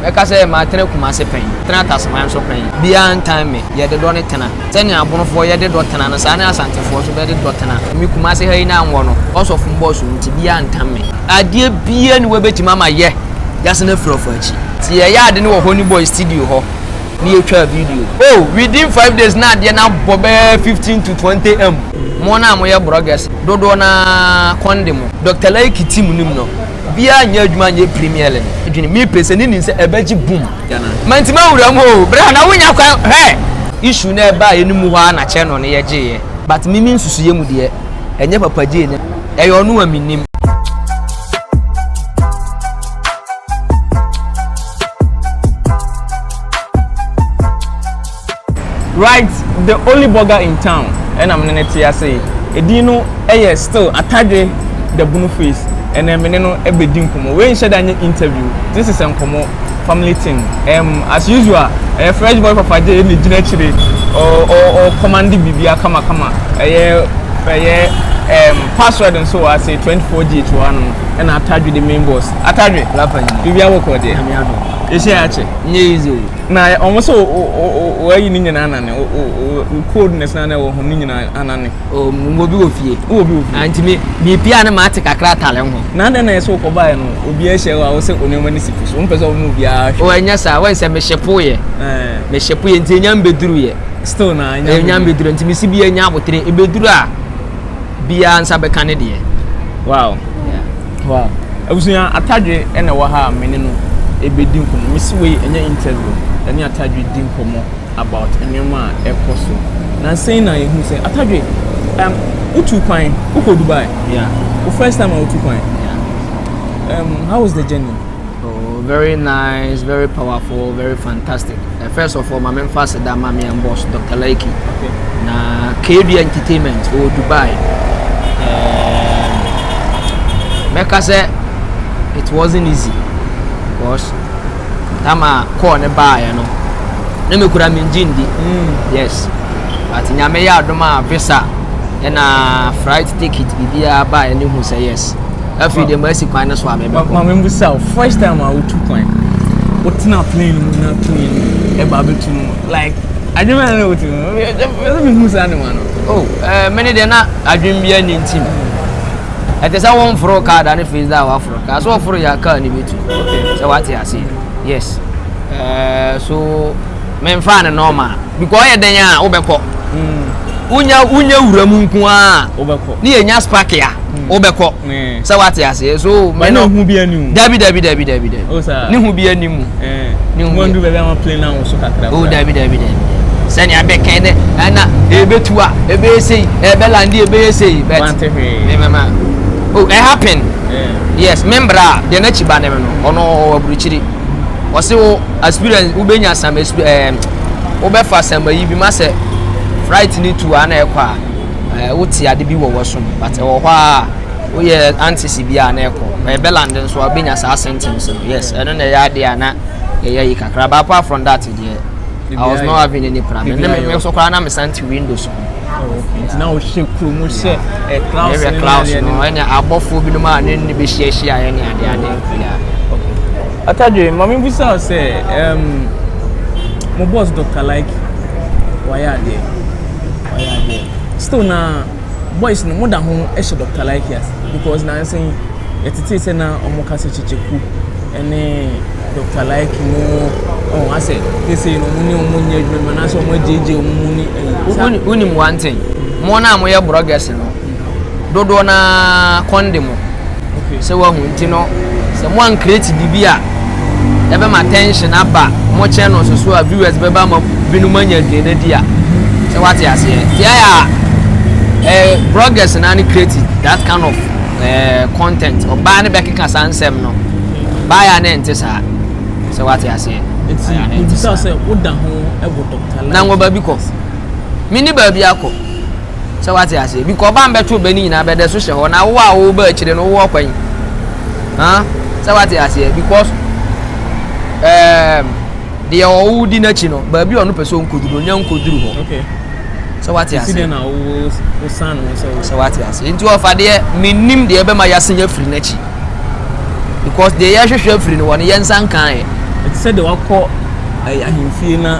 Mɛka sɛ, Matena Kumase pɛn. Tena Taseman nso pɛn. Biaa ntan me. Yɛde dɔ ne tena. Sɛnea Abonofoɔ yɛ de dɔ tena no, saa ne Asantefoɔ nso bɛde dɔ tena. Me Kumase ha yi na nwɔ no, cos of mbɔɔ so nti, biaa ntan me. Adeɛ biaa nni hɔ a ɛbɛtumi ama yɛ yɛasan afiri ɔfɔ akyi. Nti yɛyɛ ade no wɔ Honeyboy studio hɔ ne yɛtwaa video. Oh, within five days na adeɛ no abɔ bɛyɛ fifteen to twenty M. Mo no a moyɛ brɔgɛs, dodoɔ no ara kɔn de mo. Doctor Laiki team no mu no, Biaa nyɛ adwuma nyɛ premier le no dwene me pɛ sɛ ne nim sɛ ɛbɛgye boom mantimi anwura mu oo bra na wo nya kwan hwɛ issue na ɛbaa yɛ no mu hɔ aa na kyɛ no ne yɛ gye yɛ. But me me nsusuyɛ mu deɛ ɛnyɛ papa gyee no ɛyɛ ɔno a mennim. Right the only burger in town ɛna mene no te ase yi edin no yɛ still atadwe da bunu face ɛnɛ mene no bɛdi nkɔmmɔ wei nhyɛ da nyɛ interview this is nkɔmmɔ family thing ɛm as usual ɛyɛ fresh boy fafagye na gyina akyire ɔ ɔ ɔ commande bibia kama kama ɛyɛ ɛyɛ ɛm password nso wɔ ase 24 gh wɔ ano ɛna atadwe the main boss atadwe Lafa nyina bibia wɔ kɔ deɛ nyame adom yɛhyɛ akyɛ nyɛ easy o. Na wɔn sɛ wɔayi ne nyinaa anane wo coldness na ɛwɔ ho ne nyinaa anane. o mo bi wɔ fie. wɔ bi wɔ fie. nti mi mi pia ne maa te kakra atale ho. na adɛn na ɛsɛ wokɔ baeɛ no obiara hyɛ wo a wosɛ onneɛma ne si fi so wompɛ sɛ wɔn obiara hwɛ. o ɛnyɛ saa wɔn sɛ me hyepo yɛ. me hyepo yɛ nti enya mbeduru yɛ. still na enya mbeduru. enya mbeduru nti mi si bi enya abotire ebeduru a biara nsa bɛka ne deɛ. wow. Yeah. Wow abusua atadwe na ɛwɔ ha a me ne no ɛbɛdi nkɔmmɔ mesi wei ɛnyɛ interview ɛne atadwe di nkɔmmɔ about nneɛma a ɛkɔ so na nsɛn na yɛhu sɛ atadwe um, wotu kwan wokɔ Dubai yeah. wo first time a wotu kwan yeah. um, how was the journey Oh very nice very powerful very fantastic eh, first of all maame nfa aseda ama me and boss Dr. Laiki okay. na KB entertainment wɔ oh, Dubai eh, mɛka sɛ it wasn't easy because tama kɔɔ ne baayɛ no ne me kura me ngye ndi mm. yes but nyame yɛ adom a visa ɛna flight ticket biribiara baayɛ ne hu sɛ yes Afei deɛ masi kwan no so a mebɛkɔ. Maame mu sa first time a wotu kwan wotena plane mu na tumi no ɛba abɛtu no like adwuma na wotu no ɛsɛ mehu saa ne ma no oh eh, mene deɛ na adwene bia ne ntim ɛte sɛ womforo kaa da ne fei da a waforo kaa so wɔforo yɛ kaa ne bɛtu sɛ wate aseɛ yes uh, so Menfaa no normal because ɔyɛ dɛn a wobɛkɔ wonya wonya wura mu nko a wobɛkɔ ne yɛnya spark a wobɛkɔ sɛ wate aseɛ so me no ho bi ani mu dabi dabi dabi dabi dabi oh, ne ho bi ani mu ne ho bi baabi ama plane na so kakra o oh, dabi dabi dabi sɛnea abɛkɛn dɛ ɛna ebetu a ebɛyɛ sei ɛbɛlande ebɛyɛ sei but mɛmɛma oh it happen yes membra deɛ n'akyi ba ne no ɔno ɔwɔ aburukyiri. Ɔse wo experience wo bɛnya some exp eh, wo bɛfa some ayi bi ma sɛ fright ne tu a na ɛkɔ a eh, wo te ade bi wɔ wɔ som but ɛwɔ hɔ a wo yɛ antisi bi a na ɛkɔ eh, bɛland nso a bɛnya saa symptoms no yes ɛno na ɛyɛ adeɛ a na ɛyɛ yi kakra but apart from that deɛ I was not having any problem ne me nso koraa na me san windows ho. nti na ɔhyɛ kuro mu sɛ clouds no clouds no ɛna abɔfoɔ binom a ne ne bɛhyiahyia yɛ ne ade ade atadwe ma mebusa sɛ mo boss dr like wayɛ adeɛ wayɛ adeɛ still na boys no mo da ho hyɛ Doctor Likey ase because nansa yi yɛtetee sɛ na wɔn ka sɛ kyekyeku ɛne Doctor Likey no ɔn asɛ sese no wɔn ne wɔn nyɛ adwuma ma nansa wɔn agyegye wɔn mu ne ɛyi. Wonim one thing mo na mo yɛ brɔgɛs no dodoɔ na kɔn de mo. Okay sɛ wahu nti no sɛ mo an create biribi a ɛbɛma attention aba mo channels so a viewers bɛba ma binom anya adwene no adi a sɛ wate aseɛ nti ayɛ a eh, bloggers na ne create that kind of eh, content ɔbaa ne bɛkeka saa nsɛm no baa yɛ a ne nte saa sɛ wate aseɛ nti mebisa sɛ woda ho wɔ dɔkta na nwɔ baabi kɔ mene baabi akɔ Sɛ wate aseɛ bi kɔ ɔbaa mbɛto ɔbɛ ne nyinaa bɛdɛ so hyɛ hɔ na wo a wo ba akyire no wowɔ kwan ah sɛ wate aseɛ because ɛɛm um, deɛ ɔwo di n'akyi no baabi ɔno pɛ sɛ ɔnkɔduru no nya nkɔduru hɔ okay. sɛ wate aseɛ sɛ wate aseɛ nti ɔfa deɛ mennim deɛ ɛbɛma yɛasen afiri n'akyi because deɛ yɛhwehwɛ afiri no wɔ no yɛnsa nkaeɛ sɛ deɛ wakɔ ahemfie na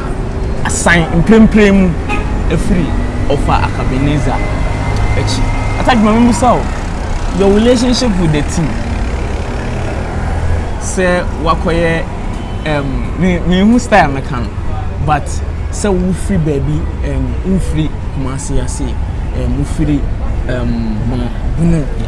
asan mprempren mu afiri ɔfa Akabenezer akyi. Ataj ma me mmusa wo, your relationship with the team sɛ wakɔyɛ um, me, me hu style me ka no, but sɛ wofiri baabi um, wofiri Kumasi ase um, wofiri um, Bono, Bono.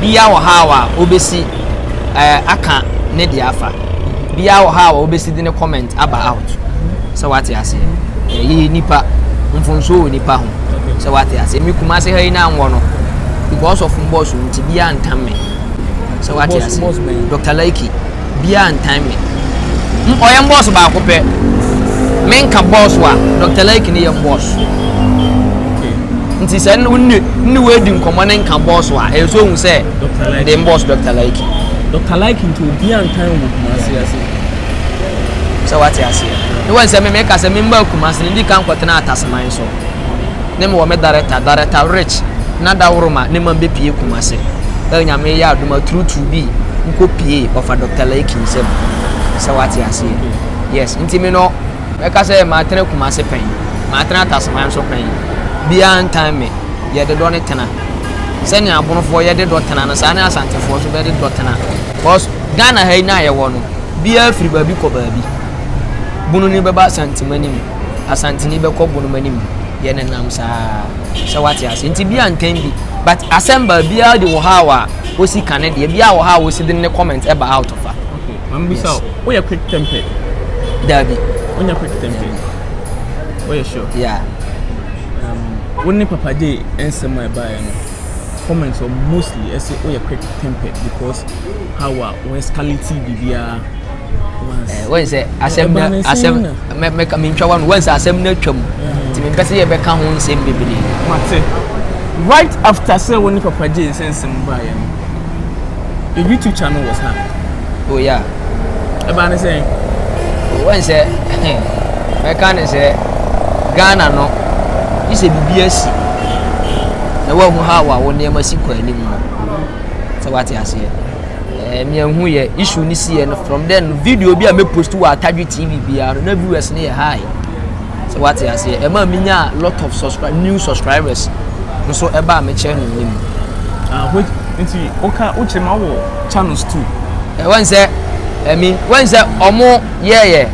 Biaa wɔ ha a obesi eh aka ne deɛ afa biaa wɔ ha a obesi de ne comment aba out sɛ wate aseɛ yɛyi nipa mfonsuo wɔ nipa ho sɛ wate aseɛ me kumase ha yi na nwɔ no because of mbɔs nti biaa ntam me sɛ wate aseɛ Doctor Laiki. Biaa ntan me. M ɔyɛ mbɔɔs baako pɛ. Me nka bɔɔs wa, Doctor Lake ne yɛ mbɔɔs. Nti sɛ wo ne ne wei di nkɔmɔ ne nka bɔɔs wa, ɛyɛ sɛ ohu sɛ de mbɔɔs Doctor Lake. Doctor Lake nti obiaa ntan wo wɔ Kumasi ase. Sɛ wate aseɛ. Ne wahu sɛ me meka sɛ me mbaa Kumasi no, ndi kan kɔtenaa Ataseman so. ne me wɔ me darɛta darɛta rich na daworo ma ne mam bɛpie kumase ɛ nyame yɛ adoma turutu bi nkɔ pie ɔfa dɔkta laiki nsɛm sɛ wate aseɛ yes nti me no mɛka sɛ matena kumase pɛn matena atasoman nso pɛn biaa ntan me yɛde dɔ ne tena sɛnea abonofoɔ yɛde dɔ tena no saa ne asantefoɔ nso bɛde dɔ tena cause Ghana ha yi no a yɛwɔ no biaa firi baabi kɔ baabi bunu ni bɛba asantemani mu Asanteni bɛkɔ bo no mu anim yɛ ne nam saa sɛ wate ase nti bia ntɛn bi but asɛm ba bia de wɔ ha a wosi ka ne deɛ bia wɔ ha a wosi de ne comment ɛba e out of a okay mam bisa o woyɛ quick tempered dabi wonya quick tempered woyɛ sure yeah um wo ne papa de nsɛm a ɛbaeɛ no comments were mostly ɛsɛ woyɛ quick tempered because how a wo escalate biribiara wɔn sɛ asɛm na asɛm mɛka mentwa wa no wɔn sɛ asɛm na atwam nti mempɛ sɛ yɛbɛka ho nsɛm bebree mate right after sɛ wo ne papa gye nsɛ nsɛm baeɛ no your youtube channel was not oh yeah ɛbaa ne sɛ wɔn sɛ mɛka ne sɛ ghana no bi sɛ biribi asi na wɔahu ha wa wo nneɛma si kɔ anim no sɛ wate aseɛ Ɛɛ me ehu yɛ issue ne si yɛ no from then no video bi a me post wɔ atadwe tv biara no na viewers ne yɛ high sɛ wate aseɛ ɛma me nya lot of subscribe new subscribers nso ɛba a me channel ne mu. Ah, wait, nti woka wokyerɛ ma wɔ channels too. Eh, wɔn sɛ ɛmi eh, wɔn sɛ ɔmo yɛɛyɛ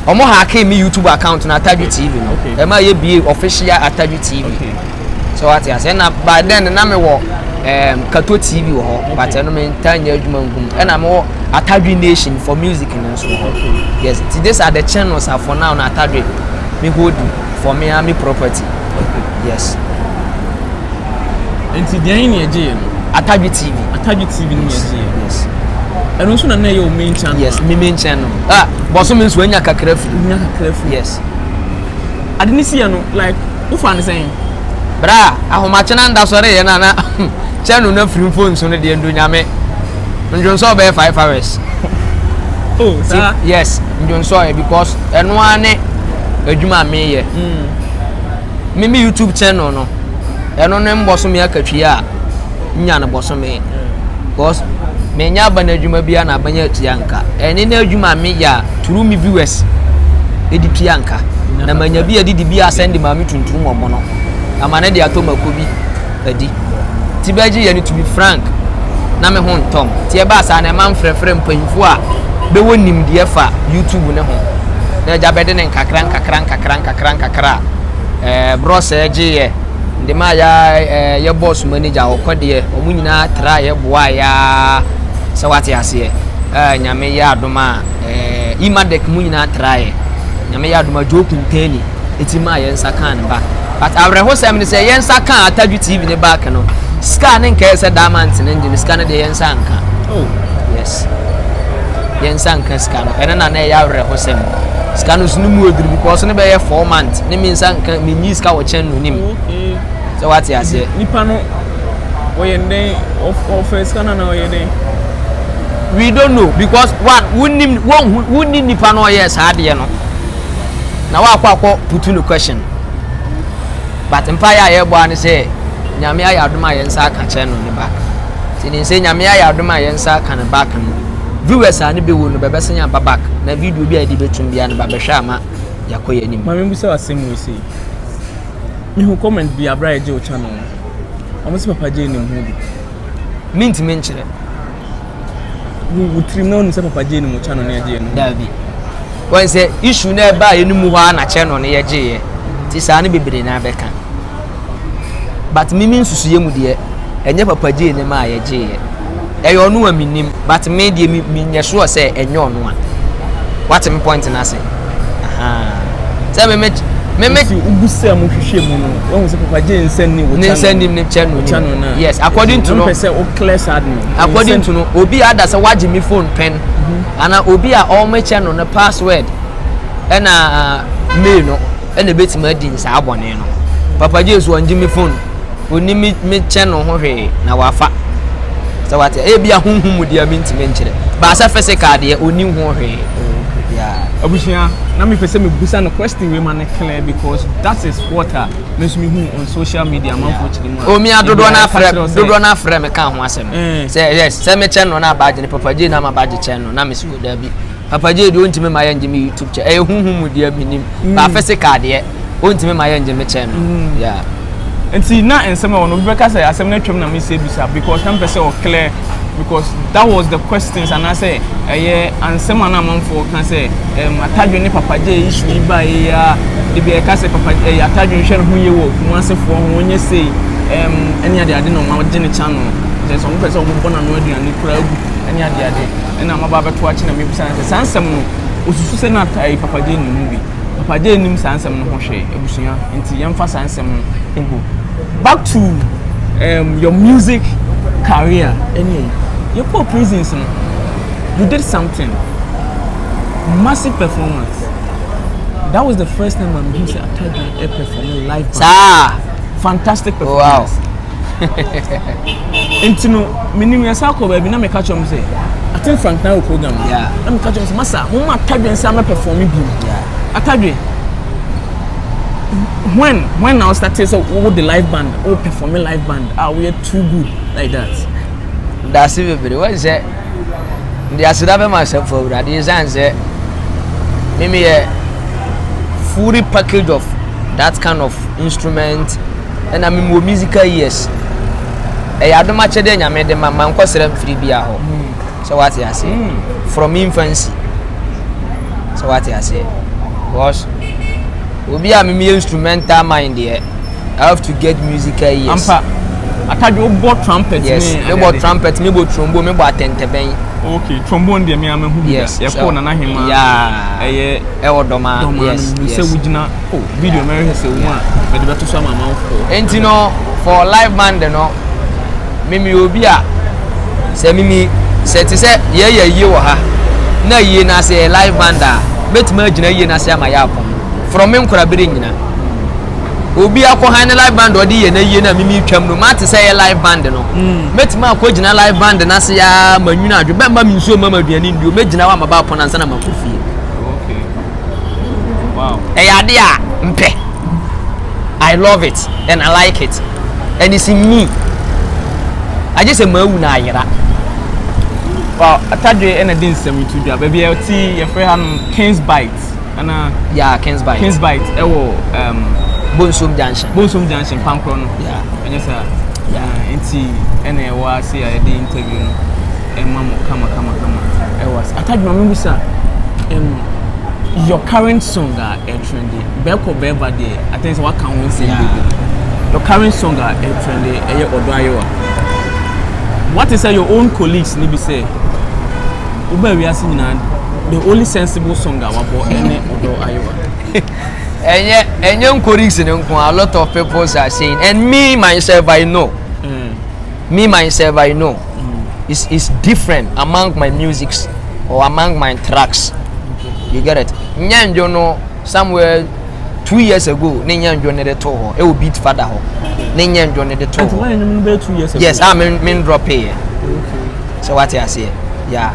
ɔmo hackee me youtube account na atadwe tv no ɛma yɛ bie official atadwe tv. Okay. So wate aseɛ na by then na mewɔ um, Kato TV wɔ hɔ but ɛno mentaa nyɛ adwuma nkum ɛna mewɔ Atadwe Nation for music no nso wɔ hɔ yes nti these are the channels a for now na Atadwe me hold for me a me property yes nti deɛ ne ɛgye yɛ no Atadwe TV Atadwe TV ne ɛgye yɛ yes ɛno nso na na ɛyɛ wo main channel yes me main channel ah bɔso me nso anya kakra firi anya kakra firi yes ade ne si yɛ no like Wofa no sɛn? Bra a, ahomakyena nda sɔre yɛ no ana? Kyɛ no na firi mfonso no deɛ ndo nyame. Ndwonsɔɔ bɛyɛ five hours. Oh, saa? Yes, ndwonsɔɔ yɛ because ɛno ara ne adwuma a meyɛ. Mm. Me me YouTube channel no, ɛno ne mbɔsome akatwia a nya no bɔsome. Because me nya aban adwuma bi na aban atua nka. Ɛne na adwuma me ya turu me viewers edi tua nka. Na manya bi adi di bi asɛn de maame tuntum wɔn no. Na ma ne de atɔ mako bi adi. Ti bɛgye yɛ ne to be frank na me ho ntɔm. Ti ɛbaa saa na ɛma mfrɛfrɛ mpanyinfo a bɛwɔ nimdeɛ fa YouTube ne ho. Na agya bɛde ne nkakra nkakra nkakra nkakra nkakra ɛɛ brɔsɛ gye yɛ. de maa yɛ ara ɛɛ yɛ bɔs manager ɔkɔ deɛ wɔn nyinaa traeɛ boaa yɛ ara sɛ wate aseɛ ɛɛ nyame yɛ adom a ɛɛ imadec mu nyinaa traeɛ nyame yɛ adom a joe kuntani ɛti maa yɛ nsa kaa ne ba but awerɛhosɛm ne sɛ yɛ nsa kaa atadwo tv ne back no sika ne nkɛɛ sɛ diamonds ne ngye no sika no deɛ yɛ nsa anka oh yes yɛn nsa nka sika no ɛno na na ɛyɛ awerɛhosɛm sika no so no mu oduru because no bɛyɛ four months ne me nsa nka me nyi sika wɔ kyɛn no nim sɛ wate aseɛ nipa no wɔyɛ ndɛn ɔfɛ sika no na ɔyɛ dɛn we don't know because one wonim wɔnhu wonni nipa no ɔyɛ saa adeɛ no na wakɔ akɔ putu no question but mpa yɛ a yɛbɔ ano sɛ nyame ayɛ adom a yɛn nsa aka kyɛn no ne ba Nti nim sɛ Nyame ayɛ adom a yɛn nsa aka no back no viewers a ne bɛ wɔ no bɛ bɛ san aba back na video bi a yɛde bɛ tum biara no ba bɛ hwɛ ama yɛakɔ yɛn anim. Mame mbusa wo asem wei sei. Me hu comment bi abere a yɛgye wo channel no. Ɔmo se papa Jay nim ho bi. Me ntumi nkyerɛ. Wo wo tirim na wonim sɛ papa Jay nim wo channel ne yɛgye yɛ no ho. Daabi. Wɔn sɛ issue na ɛbaa yɛ no mu hɔ a na channel no yɛgye yɛ. Ti saa no bebree na bɛka. but me me nsusuiɛ mu deɛ ɛnyɛ papa gyee ne ma a yɛgyeeɛ ɛyɛ ɔno a menim but me deɛ menyɛ soɔ sɛ ɛnyɛ ɔno a wate me point no ase sɛ me me meme wogu sɛ mo hwehwɛ mu no wɔn sɛ papa gye nsa ni wɔ ne nsa nim ne kyɛ no nim yes according to no pɛ sɛ o clear sad no according to no obi ada sɛ wagye me phone pɛn mhm. ana obi a ɔmo kyɛ no ne password ɛna uh, mail no ɛna ebetumi adi nsaa bɔne no. Papa Jesu ɔngye me phone, onni me me kyɛ no ho hwee na wafa. Sɛ wate, ebi a honhom mu deɛ mentumi nkyerɛ. Baasa physical deɛ onni ho hwee. Yeah. Abusua, na mepɛ sɛ mebusa no question wei ma no clear because that is what a me nso mehu on social media amanfoɔ kyerɛ mu a. Omi a dodoɔ no afrɛ dodoɔ no afrɛ me ka ho asɛm. Eh. Sɛ yes, sɛ mekyɛ no na abagye no, Papa J na mabagye kyɛ no na me so daabi. Papa Jay deɛ ɔntumi ma yɛngye me YouTube kyɛ ɛyɛ huhu mu deɛ menim mm. ba physical deɛ ɔntumi ma yɛngye me kyɛ no mm. yeah. nti na nsɛm ɛwɔ no obi bɛka sɛ asɛm no atwam na mesɛ bisa because na mpɛ sɛ ɔclear because that was the questions anaasɛ ɛyɛ ansɛm a na amanfoɔ ka sɛ ɛm atadwe ne papa Jay issue yi ba yi a de bi ɛka sɛ papa ɛyɛ eh, atadwe nhwɛ ne ho yie wɔ kumasefoɔ ho ɔnyɛ sei ɛm ɛne adeade na ɔma ɔgye ne channel sɛ sɛ ɔmo pɛ sɛ ɔmo bɔ n'ano aduane kura agu ɛne adeade. na maba abɛto akyi na mebisa no sɛ saa nsɛm no osusu sɛ na ayi papa gye nim ho bi papa gye nim saa nsɛm no ho hwee abusua nti yɛmfa saa nsɛm no egu back to um, your music career ɛne yɛkɔ prisons no you did something massive performance that was the first time I'm here to attack a perform live band. Sa. Fantastic performance. Wow. nti no menim yɛsa kɔ baabi na meka kyerɛ m sɛ aten frank na wɔ program na meka kyerɛ m sɛ masa moma atadwen sɛ ama performe bi atadwen when when na wostate sɛ wowɔ the live band wo performe live band a ah, woyɛ too good like that daase bebree wɔn sɛ de aseda bɛma asɛmfo awurade ɛsiane sɛ memeyɛ fully package of that kind of instrument na me wɔ musical years ɛyɛ adom akyɛdeɛ nyame de ma mankɔ sra mfiri bia hɔ sɛ wate aseɛ from infancy sɛ wate aseɛ because obi a memeyɛ instrumental mind deɛ I have to get musical years ampa atadwo bɔ trumpet yes me bɔ trumpet me bɔ trombone me bɔ atɛntɛbɛn okay trombone deɛ me ama hu bi yes ɛkɔ nana hema yeah ɛyɛ ɛwɔ dɔma yes yes sɛ wogyina Oh, video yeah. Mary has a woman. But the better some amount for. And you know, for live band, you know, Mimi will be a. Say Mimi, say to say, yeah, yeah, you were her. Na yie na sɛ live band a mɛtumi agyina yie na sɛ ama yɛ apɔn from me nkora bere nyina obi akɔ han ne live band ɔde yɛ na yie na mimi twam no mate sɛ yɛ live band no mɛtumi akɔ gyina live band na sɛ yɛ ma nwunu adwe bɛmma me nsuo ma ma aduane nnuo mɛgyina wa ma ba apɔn ansa na ma kɔ fie ɛyɛ ade a mpɛ i love it and i like it and it's in me agye sɛ maawu na ayera Wow, atadwe ɛna di nsɛm to dwa. Baabi a ɛte yɛfrɛ ha no Kings Bite. Ana yeah, Kings Bite. Kings Bite ɛwɔ um, Bonsom Junction. Bonsom Junction pankorɔ no. Yeah. Ɛnyɛ saa. Yeah. Nti ɛna ɛwɔ ase a yɛde interview no. ɛma mo kama kama kama ɛwɔ ase ata adwuma mi bisa ɛm your current song a ɛtrɛnde bɛɛkɔ bɛɛba deɛ atɛn sɛ waka ho nsɛm beebi your current song a ɛtrɛnde ɛyɛ ɔdɔ ayewa what is your own colleagues ni bi sɛ wobɛ wiase nyinaa the only sensible song a wabɔ ɛne ɔdɔ ayewa. ɛnyɛ ɛnyɛ nkoriksi ne nko a lot of people are saying and me myself i know. Mm. me myself I know it's it's different among my musics or among my tracks you get it nyɛ ndwo no somewhere two years ago ne nyɛ ndwo ne de to hɔ ɛwɔ beat fada hɔ ne nyɛ ndwo ne de to hɔ yes a ah, me me drop yɛ sɛ wate aseɛ yeah.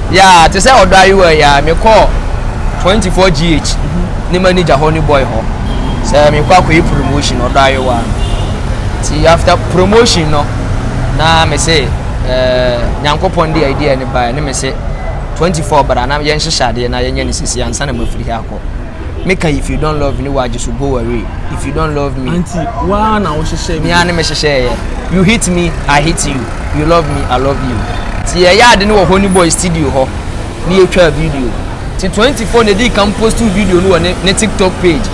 Yeah, te sɛ ɔdɔ ayewa yi ara, mekɔɔ 24 GH ne manager hɔ ne boy hɔ sɛ mekɔ akɔyɛ promotion ɔdɔ ayewa no. Nti after promotion no, na me se eh, Nyankopɔn de idea no baeɛ ne me se 24 bra na yɛnhyehyɛ adeɛ na yɛnyɛ no sisi ansa na mafiri ha akɔ. me ka if you don't love me wa just go away if you don't love me. anti waa na o hyehyɛ mi. mi a ne mi hyehyɛ yɛ you hit me i hit you you love me i love you ti yɛ yɛ ade ne wɔ honey boy studio hɔ ne yɛ twa video ti twenty four na edi kan post video no wɔ ne ne tiktok page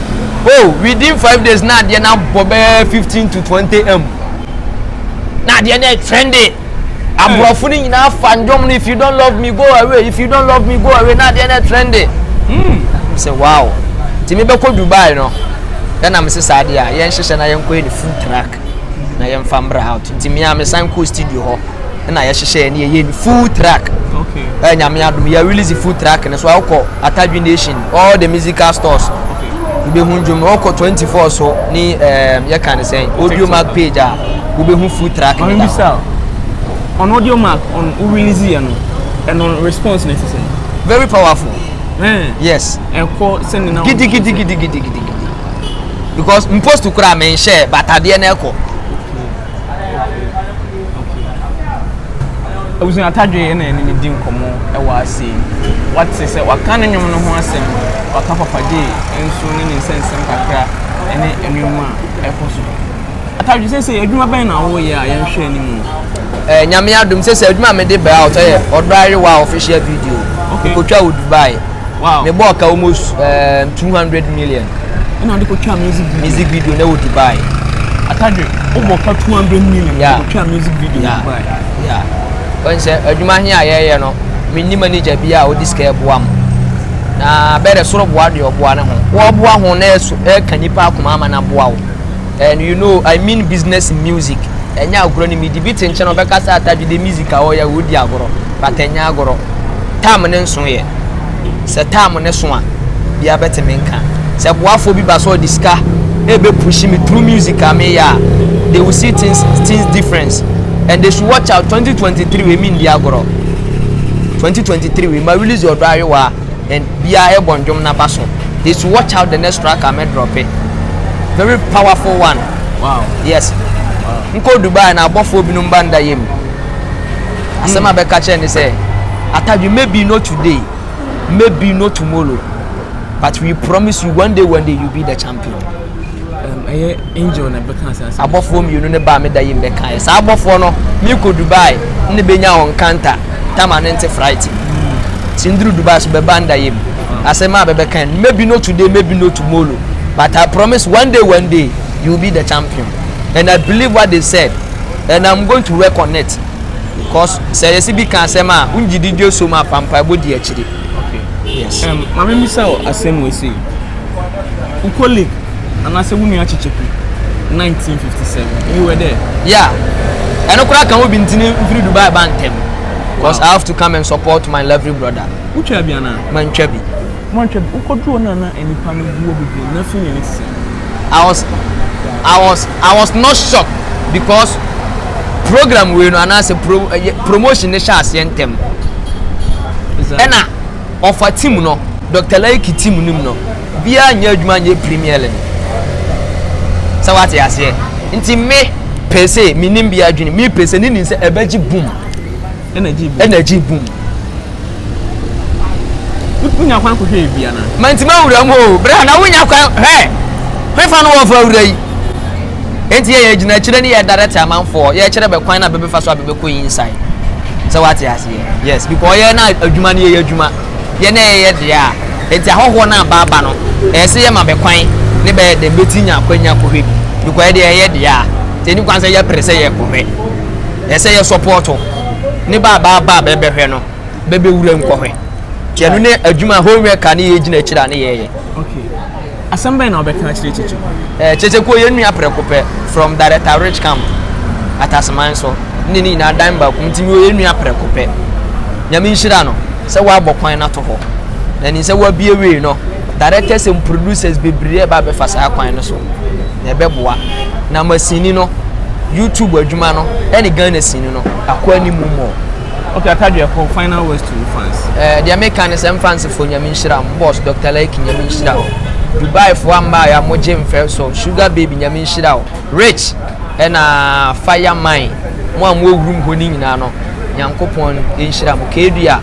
oh within five days na adeɛ na bɔ bɛɛ fifteen to twenty m na adeɛ na trending. aborɔfo no nyinaa fa nnwom no if you don't love me go away if you don't love me go away na adeɛ no ɛtrɛnde hmm. sɛ wow nti mebɛkɔ dubai no ɛna mese saa adeɛ a yɛnhyehyɛ na yɛnkɔyɛ ne full track na yɛmfa mbra out nti mea mesan kɔɔ studio hɔ ɛna yɛhyehyɛ ne yɛyɛ ne full track ɛnyame adom yɛ release full track no so awokɔ atadwe nation all the musical stores wobɛhu ndwom ɔkɔ 24 so ne um, yɛka ne sɛn audio mark page a wobɛhu full track no da hɔ on audio mark on wo release yɛ no ɛno response no ɛte sɛ very powerful mm. yes ɛkɔ sɛ ne na gidigidigidigidigidi because mpost koraa menhyɛ batadeɛ no ɛkɔ Abusua Atadwe na yɛne no di nkɔmmɔ wɔ ase yi. Wate sɛ waka ne nnwom no ho asɛm, waka Papa Jay nso ne ne nsɛnsɛm kakra ne nneɛma a ɛkɔ so. Atadwe, seesei adwuma bɛn na woyɛ a yɛnhwɛ anim? Eh, Nyame adom, seesei adwuma a mede bɛ out yɛ Ɔdɔ Ayewa official video. Okay. Mekɔtwa wɔ Dubai. wow me bɔ ka almost um, 200 million ɛna ɔde kɔtwa music video music video na wɔ dubai atadwe wobɔ ka 200 million yeah. kɔtwa music video yeah. dubai yeah. ɔn sɛ adwuma he a yɛyɛ no menni manager bi a ɔde sika ɛboa m na bɛdɛ soro boa deɛ ɔboa ne ho wɔboa ho na ɛka nnipa akoma ama no aboa wo And you know I mean business in music Ɛnyɛ agorɔ ne medi Bi te nkyɛn a ɔbɛka sɛ Atadwe de music a ɔyɛ ɔredi agorɔ But ɛnyɛ agorɔ Time ne nso yɛ Sɛ time ne so a Biaa bɛtumi nka Sɛ boafoɔ bi ba sɛ ɔde sika Ɛbɛ push me through music a meyɛ a They will see things things difference And they should watch out 2023 wei mendi agorɔ 2023 wei ma release ɔdɔ ayowaa. and bia ɛbɔ ndwom na baso they should watch out the next track a mɛ drop it very powerful one wow yes wow. nkɔ dubai na abɔfoɔ binom ba nda yɛ mu asɛm a bɛka kyerɛ ne sɛ atadwe maybe not today maybe not tomorrow but we promise you one day one day you be the champion. Abɔfoɔ mmienu no baa me da yi mbɛkaeɛ saa abɔfoɔ no me kɔ Dubai ne bɛ nya wɔn nkanta tama ne nte fright ti nduru Dubai so bɛ ba nda yɛ mu ase maa bɛ bɛ kan maybe not today maybe not tomorrow but I promise one day one day you will be the champion and I believe what they said and I'm going to work on it cause sɛ yɛsi bi kan asɛm a ngyi di dwe so mu apampaebɔ di akyiri. Yes. Um, ma me misa o asem we say. U colleague and I say we nua chichiku 1957. You were there. Yeah. And I can we been tini free Dubai bantem. Because wow. I have to come and support my lovely brother. Who chabi ana? Man chabi. Man chabi. U kodro na na enipa no guo bibi na fi yenisi. I was I was I was not shocked because program wei no anaasɛ pro ɛyɛ promotion no hyɛ aseɛ ntɛm ɛna ɔfa team no dr laiki team no mu no biara nyɛ adwuma nyɛ premier league sɛ wate aseɛ nti me pese menim bi adwene me pese ne nim sɛ ɛbɛgye boom Energy boom. Energy boom. Wonya kwan kɔhwɛ yɛ bia na. Manti ma wura mu o. Bra na wonya kwan hwɛ. Hwefa no wɔfa wura yi. Enti yɛ yɛ gyina akyire ne yɛ direct amanfoɔ. Yɛ kyerɛ bɛ kwan na bɛbɛfa so a bɛbɛkɔ yi inside. Sɛ wate aseɛ. Yes, because yɛ na adwuma no yɛyɛ adwuma. Yɛ na yɛyɛ deɛ a. Enti ahɔhoɔ no aba aba no, ɛyɛ sɛ yɛma bɛ kwan ne bɛyɛ dɛn bɛti nya akwanya kɔhwɛ bi. Because yɛ deɛ yɛyɛ deɛ a. Nti ɛni kwan sɛ yɛpere sɛ yɛkɔhwɛ. Ɛsɛ yɛ sɔpɔɔto ne ba abaa ba a bɛbɛhwɛ no bɛbɛ wura mu kɔhwɛ nti ɛno ne adwuma home worker ne yɛ gyina akyiri a ne yɛ yɛ. Okay. Asɛm bɛn na ɔbɛka akyerɛ Kyekyeku? Eh, Kyekyeku yɛ nua prɛko pɛ from Director Rich Camp Ataseman so ne ne nyinaa dan baako nti mi yɛ nua prɛko pɛ. Nyame nhyira no sɛ wabɔ kwan no ato hɔ na nim sɛ wabie wei no Directors and producers bebree ɛba abɛfa saa kwan no so na ɛbɛboa na ama sini no YouTube adwuma no ɛne Ghana sini no akɔ anim mmɔ. Okay, Akadwe Ako, final words to fans. Eh, deɛ meka ne sɛ mfansefo nyame nhyira mo, boss Dr. Laiki nyame nhyira wo. Dubai fo amma ya mo gye mfɛ so, sugar baby nyame nhyira wo. Rich ɛna fire mine mo a mo awurum hɔ ne nyinaa no, Nyankopɔn nhyira mo. Kedua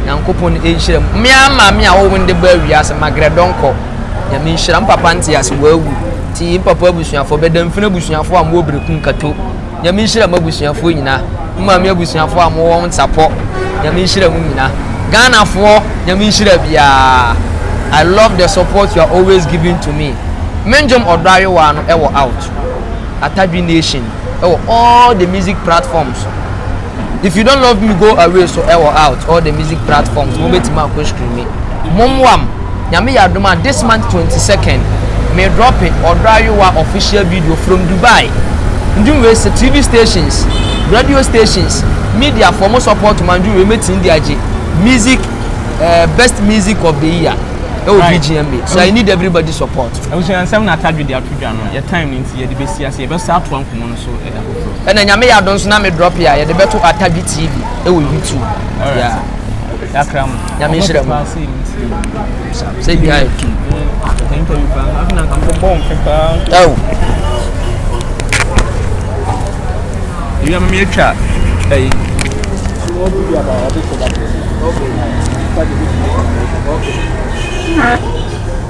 Nyankopɔn nhyira mu. Me ara maame a ɔwɔ me no de baa wiase ma grɛ dɔnkɔ. Nyame nhyira. Me papa nte ase wawu. Ti me papa abusuafoɔ bɛda mfini abusuafoɔ a mowɔ bereku nkato. Nyame nhyira mo abusuafoɔ nyina. Me maame abusuafoɔ a mowɔ wɔn sapɔ. Nyame nhyira mo nyina. Ghanafoɔ nyame nhyira biara. I love the support you are always giving to me. Me ndwom ɔdɔ ayowaa no ɛwɔ out. Atadwi nation. ɛwɔ all the music platforms so if you don't love me go away so ɛwɔ out all the music platforms mo bɛtumi akɔ streami mommoam nyame yɛ adom a this month 22nd me drop it ɔdɔ ayowa official video from dubai ndwom wei sɛ tv stations radio stations media for mo support ma ndwom wei mɛtumi de agye music uh, best music of the year ɛwɔ right. bgma so i need everybody support ɛwosɛ nsɛm na atadwe de ato dwa no yɛ time no nti yɛde bɛsi ase Yɛbɛsan atoa nkɔmmɔ no so da foforɔ. Ɛna nyame yɛ adom so na me drop a yɛde bɛto atadwe tv ɛwɔ youtube. Alright. Yakra mo. Nyame nhyira mo. Sɛ bi ayɛ. Oh. Ebi ama mi atwa ɛyi. Okay.